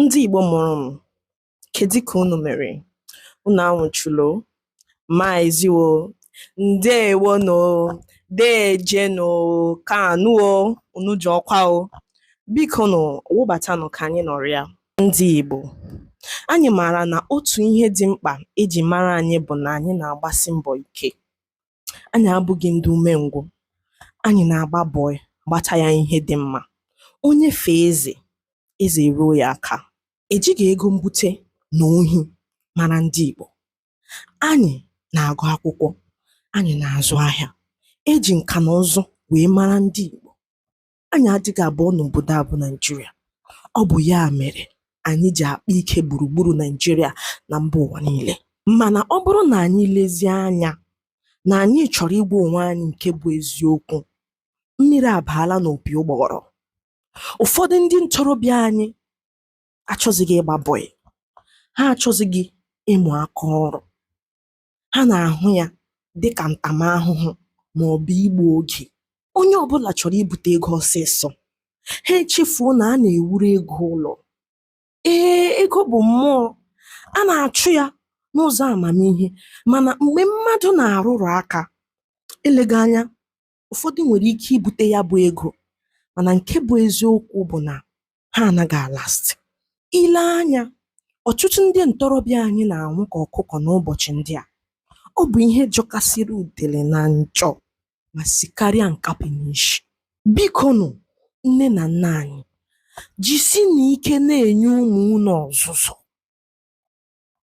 Ndị Igbo mụrụ m, kedu ka unu mere? Unu anwụchulo? Maazị o, ndeewo nụ, deeje nụ, kaanụ o, unu jọkwa o. Biko nụ wụbatanụ ka anyị nọrịa. Ndị Igbo, anyị maara na otu ihe dị mkpa eji mara anyị bụ na anyị na-agbasi mbọ ike. Anyị abụghị ndị umengwụ. Anyị na-agba bọị gbata ya ihe dị mma. Onye fee eze, eze eruo ya aka. Ejighị ego mbute na ohi mara ndị Igbo. Anyị na-agụ akwụkwọ, anyị na-azụ ahịa. E ji nka na ụzụ wee mara ndị Igbo. anyị adịghị abụọ n'obodo a bụ Naịjirịa ọ bụ ya mere anyị ji akpa ike gburugburu Naịjirịa na mba ụwa niile mana ọ bụrụ na anyị lezie anya na anyị chọrọ ịgwa onwe anyị nke bụ eziokwu mmiri abaala n'opi ụgbọghọrọ ụfọdụ ndị ntorobịa anyị achọzighị ịgba bọị ha achọzighị ịmụ aka ọrụ ha na-ahụ ya dị ka ntamahụhụ ma ọ bụ igbu oge. Onye ọ bụla chọrọ ibute ego ọsịsọ, ha echefuo na a na-ewuru ego ụlọ. Ee, ego bụ mmụọ, a na-achụ ya n'ụzọ amamihe, mana mgbe mmadụ na-arụrụ aka, eleghị anya ụfọdụ nwere ike ibute ya bụ ego mana nke bụ eziokwu bụ na ha anaghị alasti i lee anya ọtụtụ ndị ntorobịa anyị na-anwụ ka ọkụkọ n'ụbọchị ndị a ọ bụ ihe jọkasịrị udele na njọ ma sikarịa nkapị n'isi biko nụ nne na nna anyị jisinụ ike na-enye ụmụ unu ọzụzụ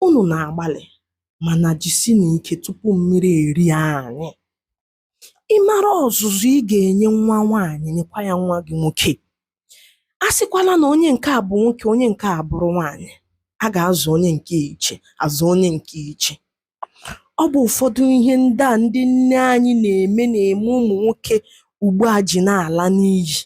unu na-agbalị mana jisinụ ike tupu mmiri erie anyị ị mara ọzụzụ ị ga-enye nwa nwaanyị nyekwa ya nwa gị nwoke asịkwala na onye nke a bụ nwoke onye nke a bụrụ nwaanyị a ga-azụ onye nke iche azụ onye nke iche ọ bụ ụfọdụ ihe ndị a ndị nne anyị na-eme na-eme ụmụ nwoke ugbu a ji na-ala n'iyi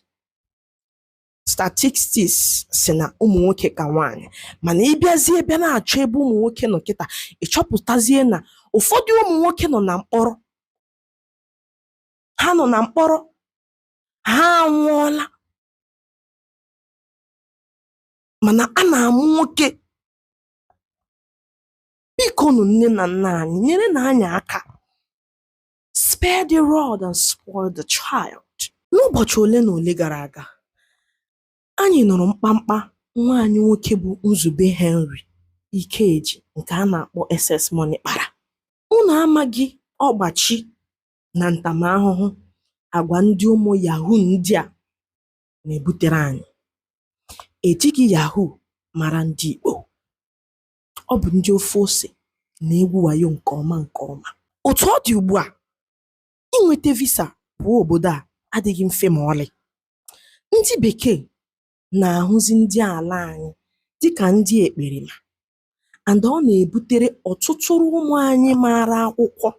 statistics sị na ụmụ nwoke ka nwaanyị mana ị bịazie bịa na-achọ ebe ụmụ nwoke nọ kịta ị chọpụtazie na ụfọdụ ụmụ nwoke nọ na mkpọrọ ha nọ na mkpọrọ ha anwụọla mana a na-amụ nwoke biko nụ nne na nna anyị nyerenụ anyị aka Spare the rod and spoil the child. N'ụbọchị ole na ole gara aga, anyị nụrụ mkpamkpa nwa anyị nwoke bụ Nzube Henry Ikeji nke a na-akpọ SS Money kpara. Unu amaghị ọgbachi na ntamahụhụ agwa ndị ụmụ yahoo ndị a na-ebutere anyị. Ejighị yahoo mara ndị Igbo. ọ bụ ndị ofe ose na-egwu wayo nke ọma nke ọma otu ọ dị ugbu a inweta visa pụọ obodo a adịghị mfe ma ọlị ndị bekee na-ahụzi ndị ala anyị dịka ndị ekperima and ọ na-ebutere ọtụtụrụ ụmụ anyị maara akwụkwọ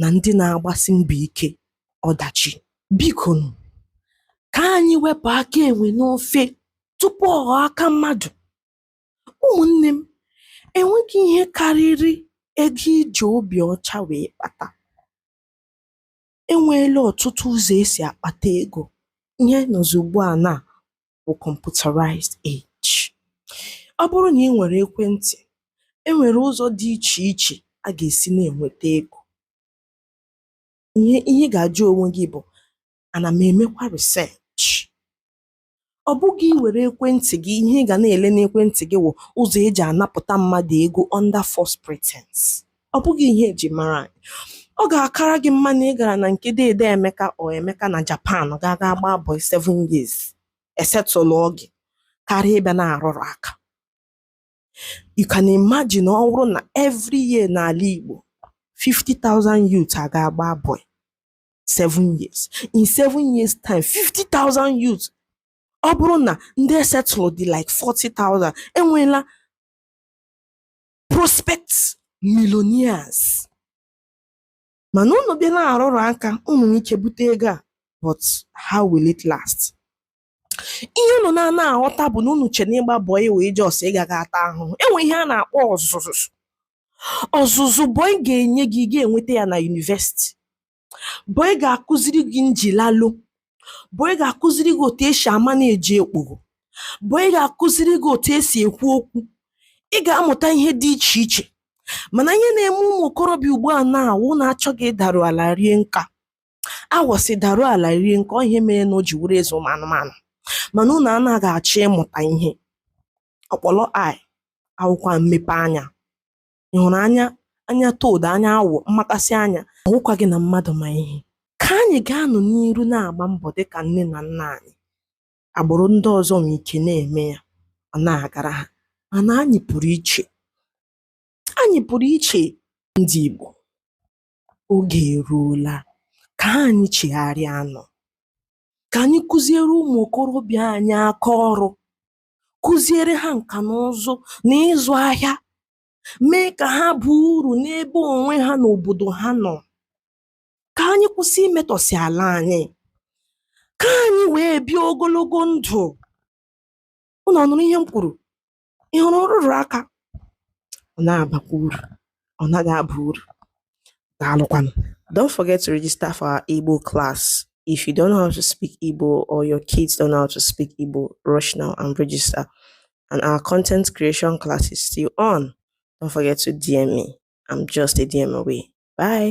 na ndị na-agbasi mbọ ike ọdachi biko nụ, ka anyị wepụ aka enwe n'ofe tupu ọ ghọọ aka mmadụ ụmụnne m enweghị ihe karịrị ego iji obi ọcha wee kpata e nweela ọtụtụ ụzọ e si akpata ego ihe a nọzi ugbu a na bụ computerized age ọ bụrụ na ị nwere ekwentị e nwere ụzọ dị iche iche a ga-esi na-enweta ego ihe ihe ị ga-ajụ onwe gị bụ ana m emekwa research ọ bụghị iwere ekwentị gị ihe ị ga na-ele n'ekwentị gị wụ ụzọ eji anapụta mmadụ ego under false pretense ọ bụghị ihe eji mara anyị ọ ga-akara gị mma na ị gara na nke deede emeka or emeka na japan ga ga gbaa bọị 7 years esetụlụ gị karịa ịbịa na-arụrụ aka you can imagine ọ bụrụ na every year n'ala igbo 50,000 youth aga agba bọị seven years in seven years time 50,000 youth ọ bụrụ na ndị esetụlụ dị like 40,000 enweela prospect millionaires mana unu bịa na-arụrụ aka unu nwee ike bute ego a but how will it last ihe unu na-ana aghọta bụ na unu che na ịgba bọị wụ just ịga ga ata ahụhụ enwe ihe a na-akpọ ọzụzụ ọzụzụ bọị ga-enye gị ị ga-enweta ya na yunivesiti bọị ga-akụziri gị njilalo bọị ga-akụziri gị otu esi amanage okpogho bọị ga-akụziri gị otu esi ekwu okwu ị ga-amụta ihe dị iche iche mana ihe na-eme ụmụ okorobịa ugbu a na wụ unu achọghị ịdaru ala rie nka agụ sị daruo ala rie nka ọ ihe mere na o ji wụrụ eze ụmụ anụmanụ mana unu anaghị achọ ịmụta ihe ọkpọlọ eye awụkwa mmepe anya ị hụrụ anya toad anya awọ mmakasị anya awụkwaghị na mmadụ ma ihe ka anyị gaanụ n'iru na-agba mbọ dị ka nne na nna anyị agbụrụ ndị ọzọ nwee ike na-eme ya ọ na-agara ha mana anyị pụrụ iche anyị pụrụ iche ndị Igbo oge eruola ka anyị chegharịanụ ka anyị kụziere ụmụ okorobịa anyị aka ọrụ kụziere ha nka na ụzụ na ịzụ ahịa mee ka ha baa uru n'ebe onwe ha na obodo ha nọ ka anyị kwụsị imetọsị ala anyị ka anyị wee bie ogologo ndụ ụnụ ọ nụrụ ihe m kwuru ị hụrụ nrụrụ aka ọ na-abakwa uru ọ naghị aba uru daalụkwanụ don't forget to register for our Igbo class if you don't know how to speak Igbo or your kids don't know how to speak Igbo rush now and register and our content creation class is still on don't forget to DM me I'm just a DM away bye